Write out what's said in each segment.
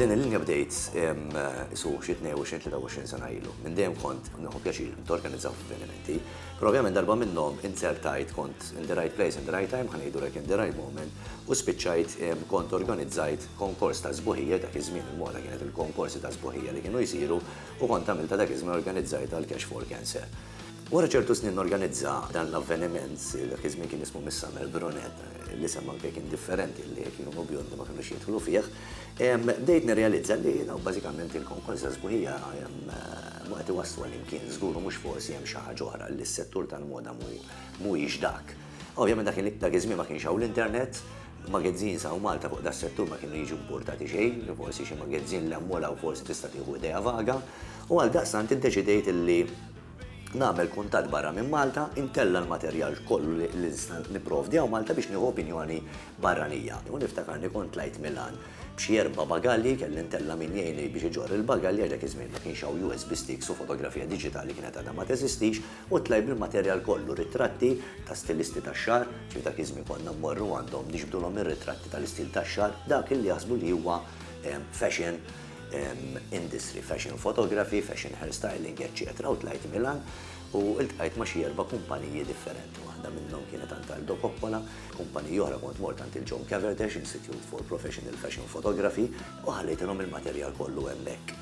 Din il-linja bdejt isu xi 22-23 sena ilu. Minn dejjem kont nieħu pjaċir norganizzaw avvenimenti, però ovvjament darba minnhom inzertajt, kont in the right place in the right time, ħa ngħidu hekk in the right moment, u spiċċajt kont organizzajt konkors ta' sbuħija, dak iż-żmien il-moda kienet il-konkorsi ta' sbuħija li kienu jsiru, u kont għamiltha dak iż-żmien organizzajtha għall-Cash for Cancer. Wara ċertu snin norganizza dan l-avveniment, dak iż-żmien kien ismu Miss Summer Brunette, l-isem anke kien differenti għalli jekk jkunu bjondi ma kinux jidħlu fih, bdejt nirrealizza li dawn bażikament il-konkorza sbuħija mhu qed iwasslu għal imkien, żgur u mhux forsi hemm xi ħaġa oħra li s-settur tal-moda mhuwiex dak. Ovvjament dak iż-żmien ma kienx hawn l-internet, magazines hawn Malta fuq das-settur ma kienu jiġu impurtati xejn, forsi xi magazine li hemm u l-hawn forsi tista' tieħu idea vaga, u għaldaqstant iddeċidejt li nagħmel kuntatt barra minn Malta, intella' l-materjal kollu li nista' nipprovdi hawn Malta biex nieħu opinjoni barranija. U niftakarni kont tlajt Milan b'xi erba' bagalji, kelli ntella' min jgħinni biex iġorr il-bagalji għax dak iż-żmien ma kienx hawn USB sticks u fotografija diġitali kienet għadha ma teżistix, u tlajt bil-materjal kollu, ritratti ta' stilisti tax-xagħar, kif dak iż-żmien konna mmorru għandhom niġbdulhom ir-ritratti tal-istil tax-xagħar, dak li jaħsbu li huwa fashion. industry, fashion photography, fashion hair styling, eċċetera, u tlajt Milan u iltqajt ma' xi erba' kumpaniji differenti. Waħda minnhom kienet għand Aldo Coppola, kumpaniji oħra kont mort għand il-John Caverdesh Institute for Professional Fashion Photography u ħallejtilhom il-materjal kollu hemmhekk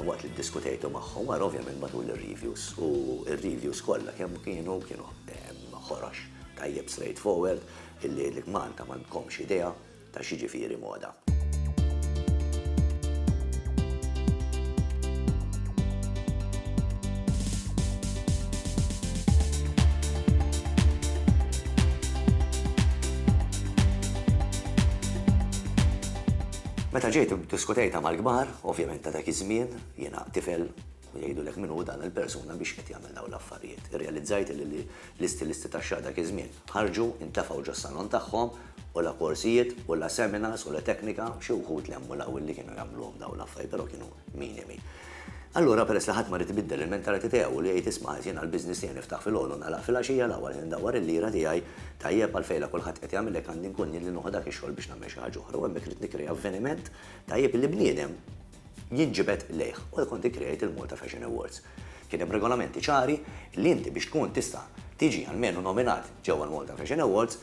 waqt li ddiskutejtu magħhom wara ovvjament matul ir-reviews u r-reviews kollha kemm kienu kienu ħorox tajjeb straightforward illi jgħidlek Malta m'għandkomx idea ta' x'jiġifieri moda. Meta ġejt iddiskutejtha mal-kbar, ovvjament ta' dak iż-żmien, jiena tifel Jgħidulek min hu dan il-persuna biex qed jagħmel dawn l-affarijiet. Irrealizzajt illi l-istilisti tax-xagħar dak iż-żmien ħarġu, intefgħu ġos-salon tagħhom, u la korsijiet, u la seminars, u la teknika, xi wħud lemmu l-għawil li kienu jagħmluhom dawn l-affarijiet, però kienu minimi. Allura peress li ħadd ma ried ibiddel il-mentality tiegħu li jgħid isma' għaż jiena l-business tiegħi niftaħ filgħodu u nagħlaq filgħaxija, l-aħwa li ndawwar il-lira tiegħi, tajjeb għalfejn la kulħadd qed jagħmel hekk għandi nkun jien li nuħu dak ix-xogħol biex nagħmel xi ħaġa oħra u hemmhekk ridt nikkrea avveniment tajjeb illi bniedem, jinġibed lejh u l-content create il-Malta Fashion Awards. Kien hemm regolamenti ċari li inti biex tkun tista' tiġi almenu nominat ġewwa l-Malta Fashion Awards,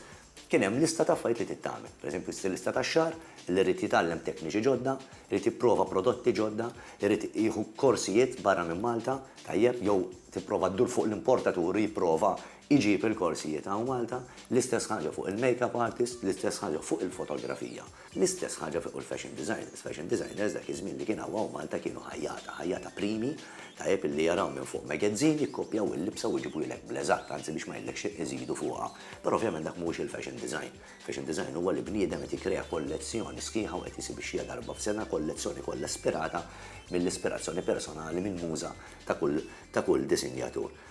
kien hemm lista ta' affarijiet li trid tagħmel. Per eżempju stilista tax-xagħar li jrid jitgħallem tekniċi ġodda, jrid jipprova prodotti ġodda, jrid jieħu korsijiet barra minn Malta, tajjeb, jew tipprova ddur fuq l-importatur u jipprova jġib il-korsijiet hawn Malta, l-istess ħaġa fuq il-makeup artist, l-istess ħaġa fuq il-fotografija. L-istess ħaġa fi kull fashion designers. Fashion designers dak iż-żmien li kien hawn hawn Malta kienu ħajjata, ħajjata primi, tajjeb illi jaraw minn fuq magazine, jikkopjaw il-libsa u jġibulek bl-eżatt, anzi biex ma ngħidlek xejn iżidu fuqha. Però ovvjament dak mhuwiex il-fashion design. Fashion design huwa li bniedem qed jikkrea kollezzjoni sħiħa u qed jisibixxiha darba f'sena, kollezzjoni kollha ispirata mill-ispirazzjoni personali, mill-muża ta' kull ta' kull disinjatur.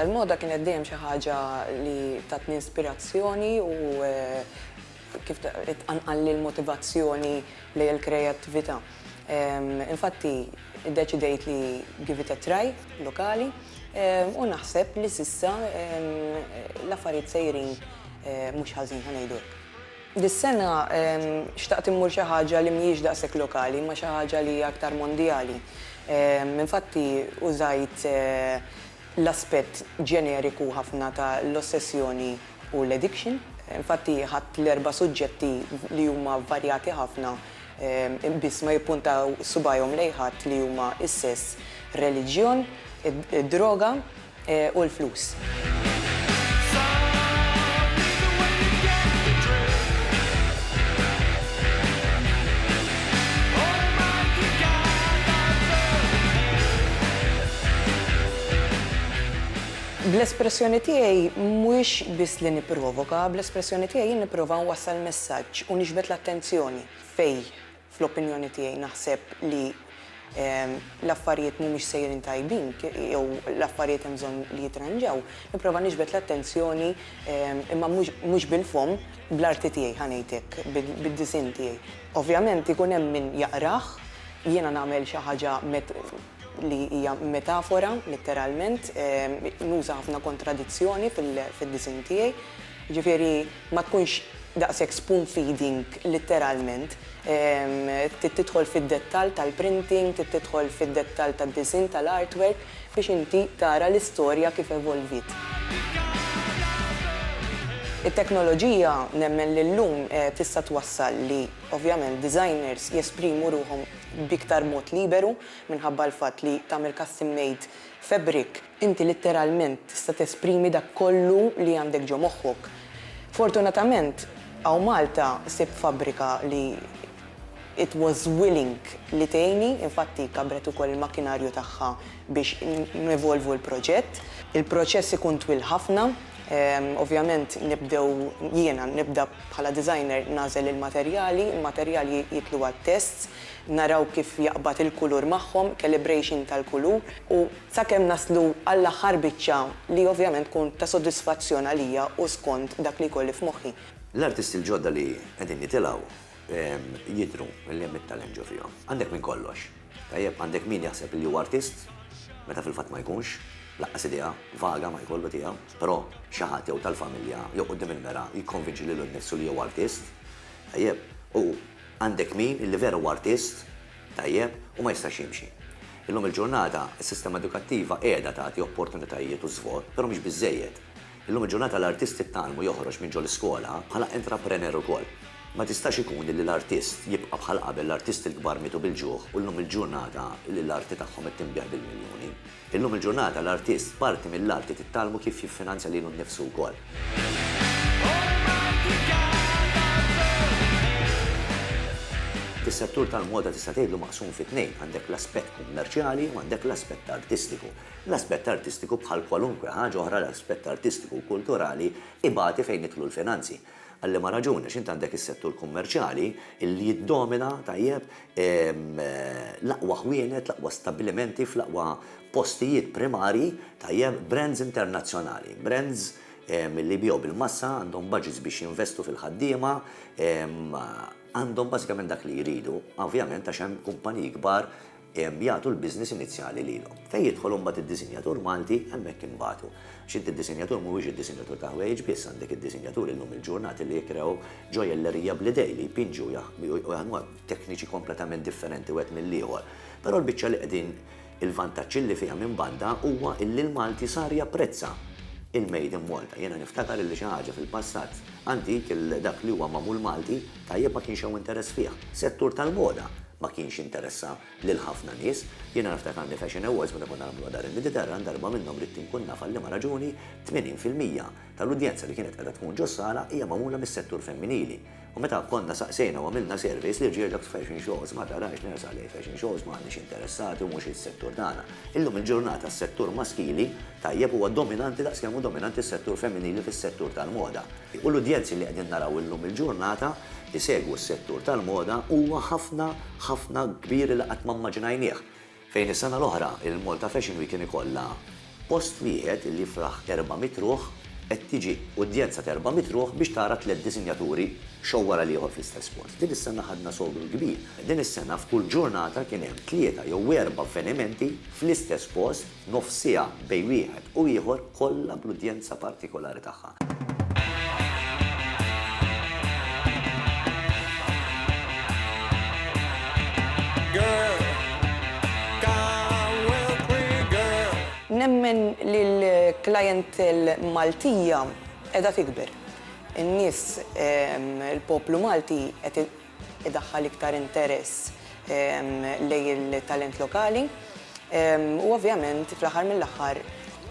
Il-moda kienet dejjem xi ħaġa li tatni ispirazzjoni u kif tqanqalli l-motivazzjoni lejn il-kreattività. Infatti, iddeċidejt li give it a try, lokali, u naħseb li s'issa l-affarijiet sejrin mhux ħażin, ħa ngħidu hekk. Dis-sena xtaqt immur xi ħaġa li mhijiex daqshekk lokali imma xi ħaġa li hija aktar mondjali. Infatti użajt l-aspett ġeneriku ħafna ta' l-ossessjoni u l-addiction. Infatti ħadt l-erba' suġġetti li huma varjati ħafna biss ma jippuntaw subajhom lejn ħadd li huma s-sess, ir-reliġjon, id-droga, u l-flus. Bl-espressjoni tiegħi mhuwiex biss li nipprovoka, bl-espressjoni tiegħi jien nipprova nwassal messaġġ u niġbed l-attenzjoni fejn Fl-opinjoni tiegħi naħseb li l-affarijiet mhumiex sejrin tajbin jew l-affarijiet hemm bżonn li jitranġaw, nipprova niġbed l-attenzjoni imma mhux bil-fomm, bl-arti tiegħi ħa ngħid hekk, bid-disinn tiegħi. Ovvjament ikun hemm min jaqrah, jiena nagħmel xi ħaġa li hija metafora litteralment, nuża ħafna kontradizzjoni fid-disinn tiegħi, jiġifieri, ma tkunx daqshekk spoon feeding litteralment, trid tidħol fid-dettall tal-printing, trid tidħol fid-dettall tad-disinn tal-artwork biex inti tara l-istorja kif evolviet. It-teknoloġija nemmen li llum tista' twassal li ovvjament designers jesprimu ruħhom b'iktar mod liberu minħabba l-fatt li tagħmel custom made fabric, Inti litteralment tista' tesprimi dak kollu li għandek ġo moħħok. Fortunatament, hawn Malta sibt fabbrika li it was willing li tgħinni, infatti kabbret ukoll il-makkinarju tagħha biex nevolvu l-proġett. Il-proċess ikun twil ħafna, ovvjament nibdew, jiena nibda bħala designer nagħżel il-materjali, il-materjali jidħlu għat-tests, naraw kif jaqbad il-kulur magħhom, calibration tal-kulur u sakemm naslu għall-aħħar biċċa li ovvjament tkun ta' sodisfazzjon għalija u skont dak li jkolli f'moħħi. L-artisti l-ġodda li qegħdin jitilgħu jidhru li hemm it-talent ġo fihom. Għandek minn kollox. Tajjeb, għandek min jaħseb li huwa artist meta fil-fatt ma jkunx, laqqas idea vaga ma jkollu tiegħu, però xi ħadd jew tal-familja jew quddiem il-mera jikkonvinċi lilu nnifsu li huwa artist. Tajjeb, u għandek min li vera huwa artist tajjeb u ma jistax jimxi. Illum il-ġurnata, is-sistema edukattiva qiegħda tagħti opportunitajiet u żvot, però mhix biżżejjed. Illum il-ġurnata l-artist it-talm u joħroġ minn ġo l-iskola bħala entraprener ukoll. Ma tistax ikun illi l-artist jibqa' bħal qabel, l-artisti l-kbar mietu bil-ġuħ u llum il-ġurnata l-arti tagħhom qed tinbiegħ bil-miljuni. Illum il-ġurnata l-artist parti mill-art li titgħallmu kif jiffinanzja lilu nnifsu wkoll. Is-settur tal-moda tista' tgħidlu maqsum fi tnejn, għandek l-aspett kummerċjali u għandek l-aspett artistiku. L-aspett artistiku bħal kwalunkwe ħaġa oħra l-aspett artistiku u kulturali ibati fejn jidħlu l-finanzi. Għal liema raġuni? Għax int għandek is-settur kummerċjali li jiddomina, tajjeb, l-aqwa ħwienet, l-aqwa stabbilimenti fl-aqwa postijiet primarji, tajjeb, brands internazzjonali, brands li jbigħu bil-massa, għandhom budgets biex jinvestu fil-ħaddiema, għandhom bażikament dak li jridu, ovvjament għax hemm kumpaniji kbar, Hemm jagħtu l-business inizjali lilhom. Fejn jidħol imbagħad id-disinjatur Malti, hemmhekk inbatu. Għax inti d-disinjatur mhuwiex id-disinjatur ta' ħwejjeġ biss, għandek id-disinjaturi llum il-ġurnati li jikrew ġojjellerija bl-idejn li jpinġu u jaħdmuha b'tekniċi kompletament differenti wieħed mill-ieħor. Però l-biċċa li qegħdin il-vantaġġ illi fiha minn banda huwa illi l-Malti sar japprezza il-made in Malta. Jiena niftakar illi xi ħaġa fil-passat antik, dak li huwa magħmul Malti, Tajjeb ma kienx hawn interess fih. Settur tal-moda ma kienx interessa lil ħafna nies. Jiena niftakar għandi fashion awards meta konna nagħmluha dar il-Mediterran, darba minnhom ridt inkun naf għal liema raġuni 80 fil-mija tal-udjenza li kienet qiegħda tkun ġos-sala hija magħmula mis-settur femminili. U meta konna saqsejna u għamilna surveys lirġiel dawk f'fashion shows ma tarahx nersaq lejn fashion shows m'aħniex interessati u mhux is-settur tagħna. Illum il-ġurnata s-settur maskili, tajjeb, huwa dominanti daqs kemm hu dominanti s-settur femminili fis-settur tal-moda. U l-udjenzi li qegħdin naraw illum il-ġurnata jsegwu s-settur tal-moda huwa ħafna, ħafna kbir li qatt ma mmaġinajnieh. Fejn is-sena l-oħra il-Malta Fashion Week kien ikollha post wieħed li jifraħ erba' mitt ruħ, qed tiġi udjenza t'erba' mitt ruħ biex tara tliet disinjaturi show wara l-ieħor fl-istess post. Din is-sena ħadna sogru kbir. Din is-sena f'kull ġurnata kien hemm tlieta jew erba' avvenimenti fl-istess post. nofs siegħa bejn wieħed u ieħor kollha bl-udjenza partikolari tagħha. Nemmen li l-clientele Maltija qiegħda tikber. In-nies, il-poplu Malti qed idaħħal iktar interess lejn il-talent lokali u ovvjament fl-aħħar mill-aħħar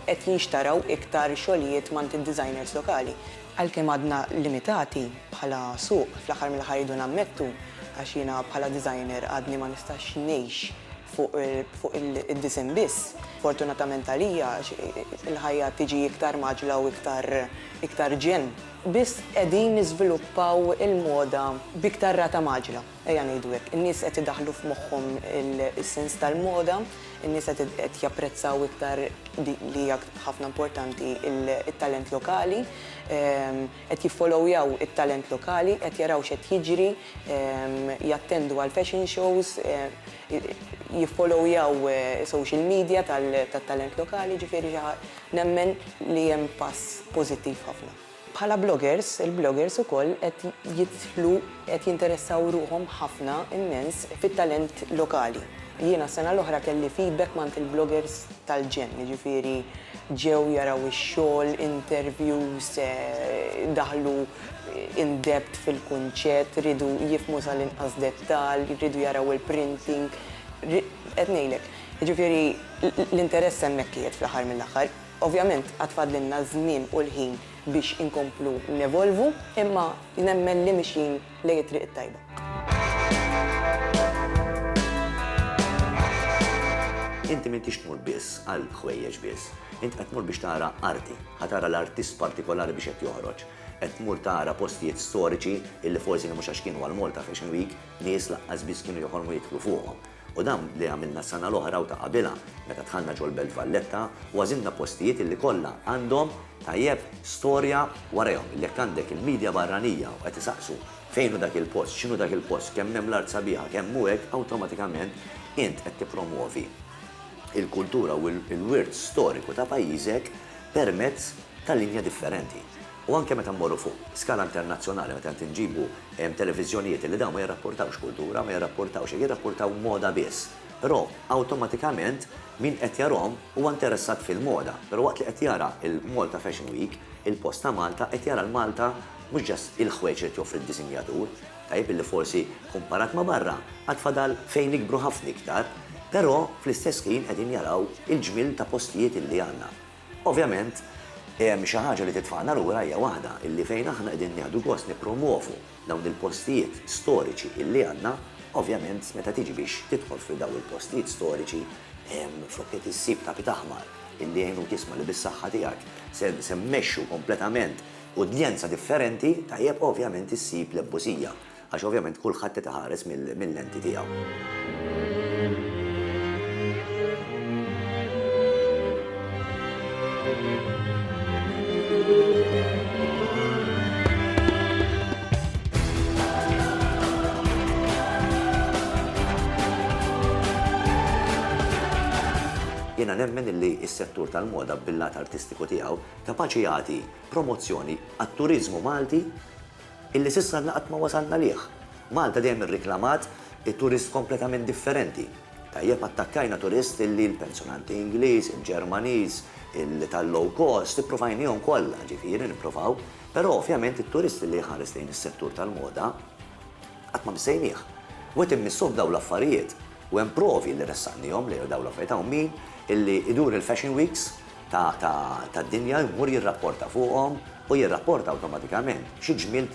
qed jinxtaraw iktar xogħlijiet m'għand id-designers lokali. Għalkemm għadna limitati bħala suq, fl-aħħar mill-aħħar irridu nammettu, għax jiena bħala designer għadni ma nistax ngħix fuq id-disinn biss, fortunatament għalija għax il-ħajja tiġi iktar mgħaġġla u iktar ġenn. biss qegħdin niżviluppaw il-moda b'iktar rata mgħaġġla, ejja ngħidu hekk. In-nies qed idaħħlu f'moħħhom is-sens tal-moda, in-nies qed qed japprezzaw iktar dik li hija ħafna importanti, it-talent lokali, qed jiffolowjaw it-talent lokali, qed jaraw x'qed jiġri, jattendu għall-fashion shows, jiffolowjaw social media tat-talent lokali, ġifieri xi Nemmen li hemm pass pożittiv ħafna. Bħala bloggers, il-bloggers ukoll qed jidħlu, qed jinteressaw ruħhom ħafna, immens, fit-talent lokali. Jiena s-sena l-oħra kelli feedback m'għand il-bloggers tal-ġenn, jiġifieri ġew jaraw ix-xogħol, interviews, daħlu in depth fil-kunċett, riedu jifhmu sal-inqas dettall, riedu jaraw il-printing, qed ngħidlek. Jiġifieri l-interess hemmhekk qiegħed fl-aħħar mill-aħħar. Ovvjament għad fadlilna ż-żmien u l-ħin biex inkomplu nevolvu, imma nemmen li mixjin lejn it-triq it-tajba. Inti m'intix tmur biss għal ħwejjeġ biss. Int qed tmur biex tara arti. Ħa tara l-artist partikolari biex qed joħroġ. Qed tmur tara postijiet storiċi illi forsi mhux għax kienu għall-Malta Fashion Week, nies laqqas biss kienu joħolmu jidħlu fuqhom. U dan li għamilna s-sena l-oħra u ta' qabilha meta dħalna ġol-Belt Valletta u għażilna postijiet illi kollha għandhom, tajjeb, storja warajhom. Illi jekk għandek il-media barranija u qed isaqsu fejn hu dak il-post, x'inhu dak il-post, kemm hemm l-art sabiħa, kemm hu hekk, awtomatikament int qed tippromwovi l-kultura u l-wirt storiku ta' pajjiżek permezz ta' linja differenti. U anke meta mmorru fuq skala internazzjonali, meta qed inġibu televiżjonijiet illi dawn ma jirrappurtawx kultura, ma jirrappurtawx hekk, jirrappurtaw moda biss. Però awtomatikament min qed jarahom huwa interessat fil-moda. Però waqt li qed jara l-Malta Fashion Week, il-post ta' Malta qed jara l-Malta mhux just il-ħwejġ li qed joffri d-disinjatur, tajjeb illi forsi kumparat ma' barra għad fadal fejn nikbru ħafna iktar, però fl-istess ħin qegħdin jaraw il-ġmiel ta' postijiet illi għandna. Ovvjament, hemm xi ħaġa li titfagħna lura hija waħda illi fejn aħna qegħdin nieħdu gost nippromwovu dawn il-postijiet storiċi illi għandna, ovvjament meta tiġi biex tidħol fi daw il-postijiet storiċi flok qed issib tapit aħmar illi jgħinuk jisma' li bis-saħħa tiegħek se se mmexxu kompletament udjenza differenti, tajjeb ovvjament issib l-ebbużija. Għax ovvjament kulħadd qed iħares mil-lenti tiegħu. Jiena nemmen illi s-settur tal-moda bil-lat artistiku tiegħu kapaċi jagħti promozzjoni għat-turiżmu Malti, Illi s'issa għadna qatt ma wasalna lih. Malta dejjem irriklamat turist kompletament differenti. Tajjeb attakkajna turist illi l-pensjonanti Ingliż, il-Ġermaniż, tal-low cost, ippruvajnihom kollha, ġifieri nipprovaw, però ovvjament it-turist illi jħares lejn is-settur tal-moda qatt ma missejnieh. U qed immissu f'dawn l-affarijiet. U hemm provi li ressaqnihom li dawn l-affarijiet hawn min illi idur il-fashion weeks, tad-dinja jmur jirrapporta fuqhom u jirrapporta awtomatikament xi ġmiel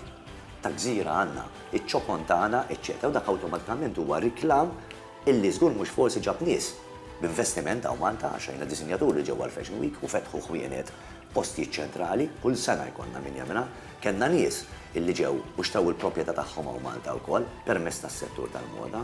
ta' gżira għandna, iċ-ċokon tagħna, eċċetera U dak awtomatikament huwa riklam illi żgur mhux forsi ġab nies b'investiment hawn Malta għax rajna disinjaturi li ġew għall-Fashion Week u fetħu ħwienet f'postijiet ċentrali, kull sena jkollna min jagħmilha, kellna nies illi ġew u xtraw il-propjetà tagħhom hawn Malta wkoll permezz tas-settur tal-moda.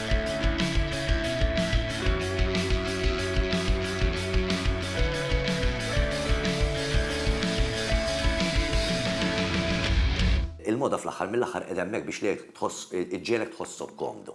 Il-moda fl-aħħar mill-aħħar qiegħda hemmhekk biex lilek tħoss, iġġiegħlek tħossok komdu.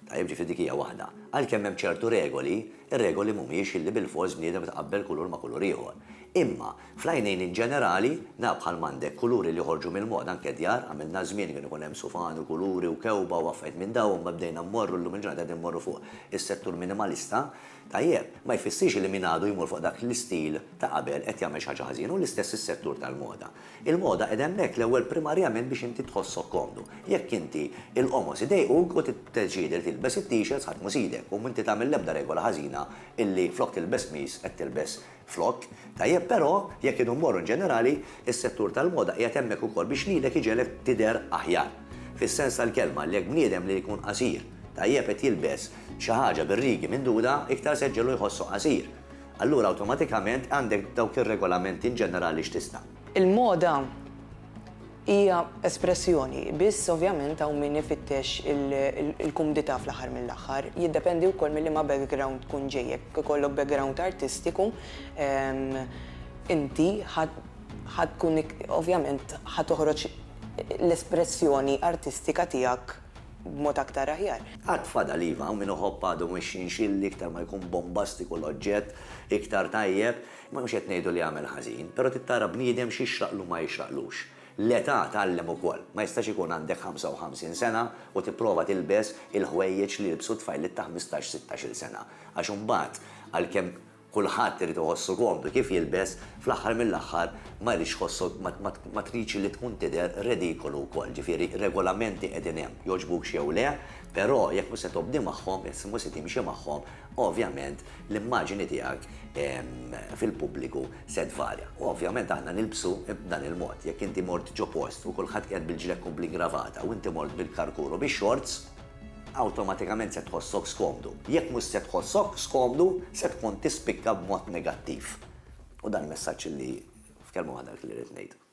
Tajjeb, ġifieri dik hija waħda. Għalkemm hemm ċertu regoli, ir-regoli mhumiex illi bilfors bniedem itqabbel kulur ma' kulur ieħor. Imma, Fl-għajnejn in ġenerali, nara bħal m'għandek kuluri li joħorġu mill-moda anke djar, għamilna żmien li kien ikun hemm sufan u kuluri u kewba u affarijiet minn dawn imma bdejna mmorru llum il-ġurnata qegħdin immorru fuq is-settur minimalista, tajjeb, ma jfissirx li min għadu jmur fuq dak l-istil ta' qabel qed jagħmel xi ħaġa ħażina u l-istess is-settur tal-moda. Il-moda qiegħda hemmhekk l-ewwel primarjament biex inti tħossok komdu. Jekk inti il-qomos idejquk u tiddeċiedi li tilbes it-t-shirts ħadd mhu sidek u inti tagħmel l-ebda regola ħażina illi flok tilbes qmis qed tilbes Flokk, tajjeb però, jekk kienu mmorru inġenerali, is-settur tal-moda qiegħed hemmhekk ukoll biex lilek iġegħlek tidher aħjar. Fis-sens tal-kelma, jekk bniedem li jkun qasir, tajjeb qed jilbes xi ħaġa bir-rigi minduda, iktar se ġġegħlu jħossu qasir. Allura awtomatikament għandek dawk ir-regolamenti inġenerali x'tista'. Il-moda hija espressjoni, biss ovvjament hawn min ifittex il-kumdità fl-aħħar mill-aħħar. Jiddependi wkoll minn liema background tkun ġej. Jekk ikollok background artistiku, inti ħa tkun ovvjament ħa toħroġ l-espressjoni artistika tiegħek b'mod aktar aħjar. Għad fadal iva, hawn min iħobb għadu mhux jinxilli, iktar ma jkun bombastiku l-oġġett, iktar tajjeb. Mhux qed ngħidu li għamel ħażin, però trid tara bniedem x'jixraqlu u ma jixraqlux. L-età tgħallem ukoll. Ma jistax ikun għandek 55 sena u tipprova tilbes il-ħwejjeġ li jilbsu tfajliet ta' ħmistax, sittax-il sena. Għax imbagħad, għalkemm kulħadd irid iħossu komdu kif jilbes, fl-aħħar mill-aħħar ma jridx tħossok, ma tridx li tkun tidher redikolu wkoll. Ġifieri, regolamenti qegħdin hemm, jogħġbukx jew le, però jekk mhux se tobdi magħhom, jekk mhux se timxi magħhom, Ovvjament l-immaġini tiegħek fil-pubbliku se tvarja. U ovvjament aħna nilbsu b'dan il-mod. Jekk inti mort ġo post u kulħadd qiegħed bil-ġlekku bl-ingravata u inti mort bil-karkuru bix-xorts, awtomatikament se tħossok skomdu. Jekk mhux se tħossok skomdu, se tkun tispikka b'mod negattiv. U dan messaġġ li f'kelma waħda dak li rrid ngħid.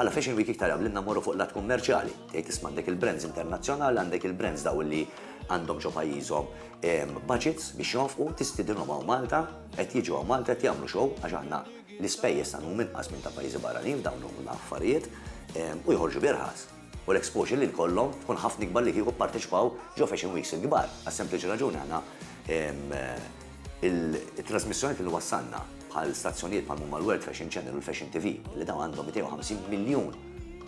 Bħala Fashion Week iktar għamlilna mmorru fuq l-att kummerċjali. Tgħid isma' għandek il-brands internazzjonali, għandek il-brands dawn li għandhom ġo pajjiżhom budgets biex jonfqu, tistidinhom hawn Malta, qed jiġu hawn Malta, qed jagħmlu show għax aħna l-ispejjeż tagħna huma inqas minn ta' pajjiżi barranin f'dawn l-affarijiet u joħorġu b'irħas. u l-exposure li jkollhom tkun ħafna ikbar li kieku pparteċipaw ġo fashion weeks il-kbar, għas-sempliċi raġuni aħna it-trażmissjonijiet li wassalna bħal stazzjonijiet bħal huma l-World Fashion Channel u l-Fashion TV li dawn għandhom 250 miljun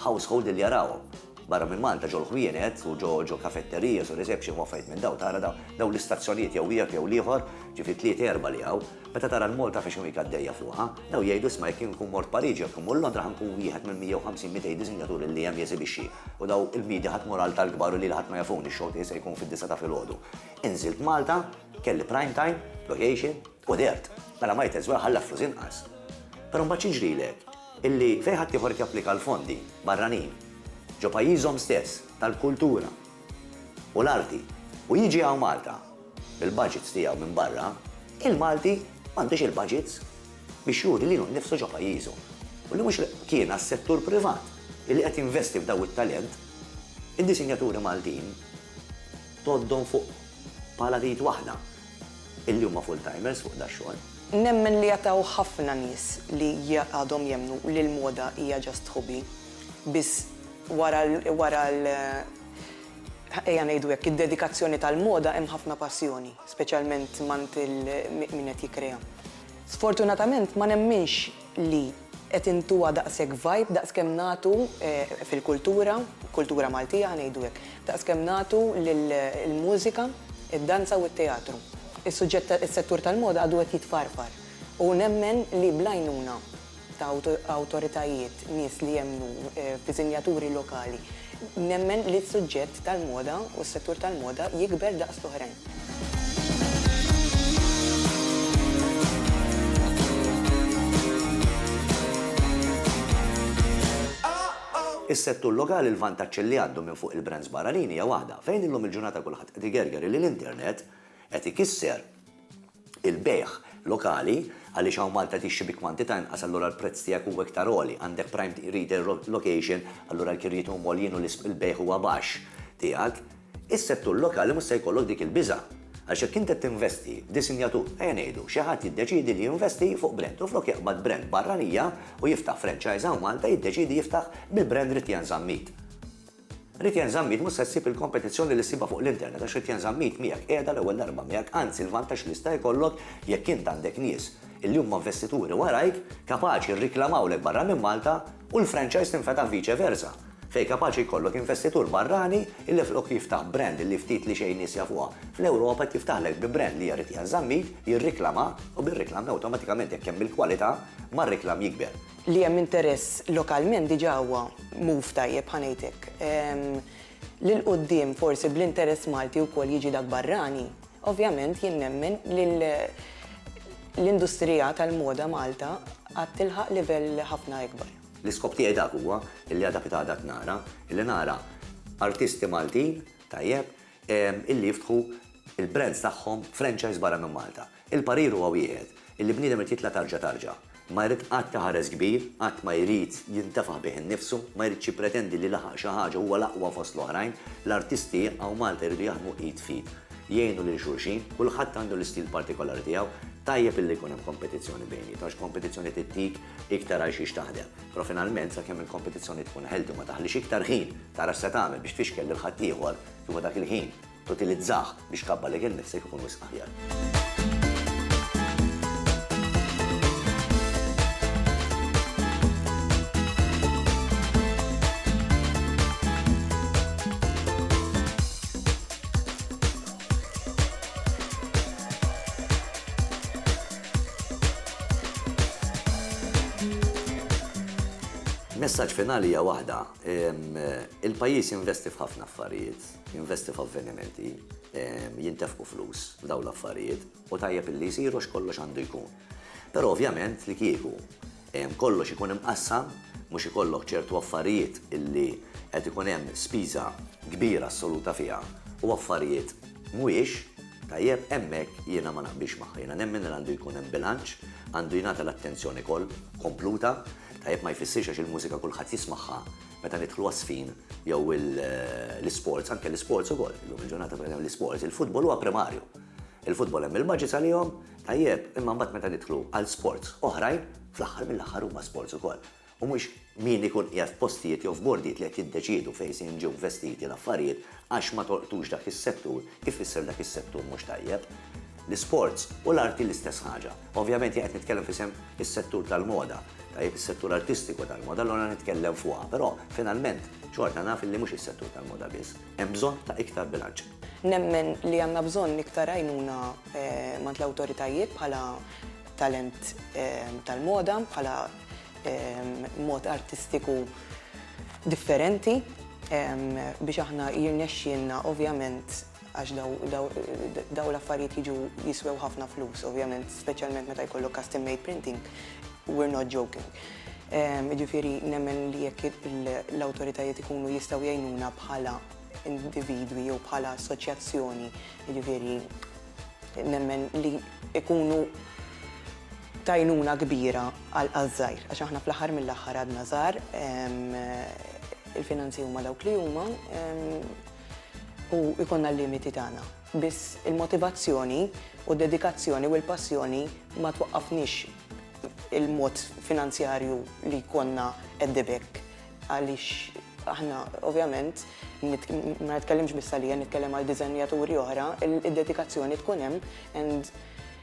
household li jarawhom barra minn Malta ġo l-ħwienet u ġo kafetterijas u reception u affarijiet minn dawn tara dawn l-istazzjonijiet jew wieħed jew l-ieħor ġifieri tlieta erbgħa li hawn Meta tara l-Malta fi x'inhu hik għaddejja fuqha, bdew jgħidu isma' jekk jien nkun mort Pariġi jew jekk immur Londra ħa nkun wieħed mill-150 200 disinjaturi li hemm jeżibixxi u daw il-bniedi ħadd mhu ralta l-kbar u lili ħadd ma jafuni x-show tiegħi se jkun fid-disgħa ta' filgħodu. Inżilt Malta, kelli prime time, location, u dehrt. Mela might as well ħalli għal flus inqas. Però mbagħad xi jiġrilek? Illi fejn ħaddieħor qed japplika l-fondi, barranin, ġo pajjiżhom stess, tal-kultura u l-arti u jiġi hawn Malta, Bil-budgets tiegħu minn barra, il-Malti m'għandux il-budgets biex juri lilu nnifsu ġo pajjiżu u li mhux kien għas-settur privat li qed jinvesti f'daw it-talent, id-disinjaturi Maltin tgħoddhom fuq pala t'id waħda illi huma full-timers fuq dax-xogħol. Nemmen li hawn ħafna nies li għadhom jemmnu li l-moda hija just hobby, biss wara wara l. ejja ngħidu hekk, id-dedikazzjoni tal-moda hemm ħafna passjoni, speċjalment mgħand min qed jikkrea. Sfortunatament ma nemminx li qed intuha daqshekk vibe daqskemm nagħtu fil-kultura, kultura Maltija ħa ngħidu hekk, daqskemm nagħtu lill-mużika, id-danza u t-teatru. Is-suġġett, is-settur tal-moda għadu qed jitfarfar u nemmen li bl-għajnuna, ta' awtoritajiet, nies li jemmnu f'disinjaturi lokali, nemmen li s-suġġett tal-moda u s-settur tal-moda jikber daqs l-oħrajn. Is-settur lokali l-vantaġġ li għandu minn fuq il-brands barranin hija waħda, fejn illum il-ġurnata kulħadd qed igerger li l-internet qed ikisser il-bejgħ lokali, għaliex hawn Malta tixtri bi kwantità inqas allura l-prezz tiegħek huwa iktar għoli, għandek prime retail location allura l-kirjiet huma għoljin u l-bejgħ huwa baxx tiegħek. Is-settur lokali mhux se jkollok dik il-biża'. Għaliex jekk int qed tinvesti f'disinjatur, ejja ngħidu, xi ħadd jiddeċiedi li jinvesti fuq brand u flok jaqbad brand barranija u jiftaħ franchise hawn Malta jiddeċiedi jiftaħ bil-brand Ritian Zammit. Rid Jien Żammit mhux se ssib il-kompetizzjoni li ssibha fuq l-internet għax Rid Jien Żammit miegħek qiegħda l-ewwel darba miegħek anzi l-vantaġġ li jista' jkollok jekk int għandek nies illi huma investituri warajk kapaċi rriklamawlek barra minn Malta u l-franchise tinfetaħ vice versa fejn kapaċi jkollok investitur barrani illi flok jiftaħ brand illi ftit li xejn nies jafuha fl-Ewropa qed jiftaħlek bi brand li hija Rid Jien Żammit jirriklama u bir-riklam awtomatikament jekk hemm il-kwalità mar-riklam jikber. li hemm interess lokalment diġà huwa move tajjeb ħa ngħid hekk. Lil quddiem forsi bl-interess Malti wkoll jiġi dak barrani, ovvjament jien nemmen li l-industrija tal-moda Malta għad tilħaq livell ħafna ikbar. L-iskop tiegħi dak huwa, illi għadha kif għadha tnara, illi nara artisti Maltin, tajjeb, illi jiftħu l-brands tagħhom franchise barra minn Malta. Il-parir huwa wieħed, illi bniedem irid jitla' tarġa tarġa. Ma jrid qatt iħares kbir, qatt ma jrid jintefaħ bih innifsu, ma jridx jippretendi li laħaq xi ħaġa u huwa l-aqwa fost l-oħrajn. L-artisti hawn Malta jridu jaħdmu id f'id. Jgħinu lil xulxin, kulħadd għandu l-istil partikolari tiegħu. Tajjeb illi jkun hemm kompetizzjoni bejniethom għax kompetizzjoni tittik iktar għal xiex taħdem. Però finalment sakemm il-kompetizzjoni tkun healthy u ma taħlix iktar ħin tara x'se tagħmel biex tfixkel lil ħaddieħor huwa dak il-ħin Tutilizzah biex tkabbar lejk innifsek ikun wisq aħjar. Messaġġ finali hija waħda, il-pajjiż jinvesti f'ħafna affarijiet. Jinvesti f'avvenimenti, jintefqu flus f'dawn l-affarijiet u tajjeb illi jsir għax kollox għandu jkun. Però ovvjament li kieku kollox ikun imqassam, mhux ikollok ċertu affarijiet illi qed ikun hemm spiża kbira assoluta fiha u affarijiet mhuwiex, tajjeb, hemmhekk jiena ma naqbilx magħha. Jiena nemmen li għandu jkun hemm bilanċ, għandu jingħata l-attenzjoni kompluta, tajjeb, ma jfissirx għax il-mużika kulħadd jismagħha meta nidħlu għas-sfin jew l-isports, anke l-isports ukoll, illum il-ġurnata pereżempju l-isports, il-futbol huwa primarju. Il-futbol hemm il-maġis għalihom, tajjeb, imma mbagħad meta nidħlu għal sports oħrajn, fl-aħħar mill-aħħar huma sports ukoll. U mhux min ikun qiegħed f'postijiet jew f'bordijiet li qed jiddeċiedu fejn se jinġew investiti l-affarijiet Għax ma tolqtux dak is-settur, ifisser dak is-settur mhux tajjeb. L-isports u l-arti l-istess ħaġa. Ovvjament jien qed nitkellem f'isem is-settur tal-moda, tajjeb, is-settur artistiku tal-moda, allura nitkellem fuqha, però finalment xorta naf illi mhux is-settur tal-moda biss. Hemm bżonn ta' iktar bilanċ. Nemmen li għandna bżonn iktar għajnuna mant l-awtoritajiet bħala talent tal-moda, bħala mod artistiku differenti biex aħna jirnexxielna ovvjament għax daw l-affarijiet jiġu jiswew ħafna flus, ovvjament, speċjalment meta jkollok custom made printing, we're not joking. Ġifieri nemmen li jekk l-awtoritajiet ikunu jistgħu jgħinuna bħala individwi jew bħala assoċjazzjoni, ġifieri nemmen li ikunu t'għajnuna kbira għaż-żgħir, għax aħna fl-aħħar mill-aħħar għadna żgħar, il-finanzi huma dawk li huma u jkollna l-limiti tagħna. Biss il-motivazzjoni u d-dedikazzjoni u l-passjoni ma twaqqafniex il-mod finanzjarju li jkollna qeddib hekk għaliex aħna ovvjament, ma nitkellimx biss għalija, nitkellem għal diżenjaturi oħra, id-dedikazzjoni tkun hemm and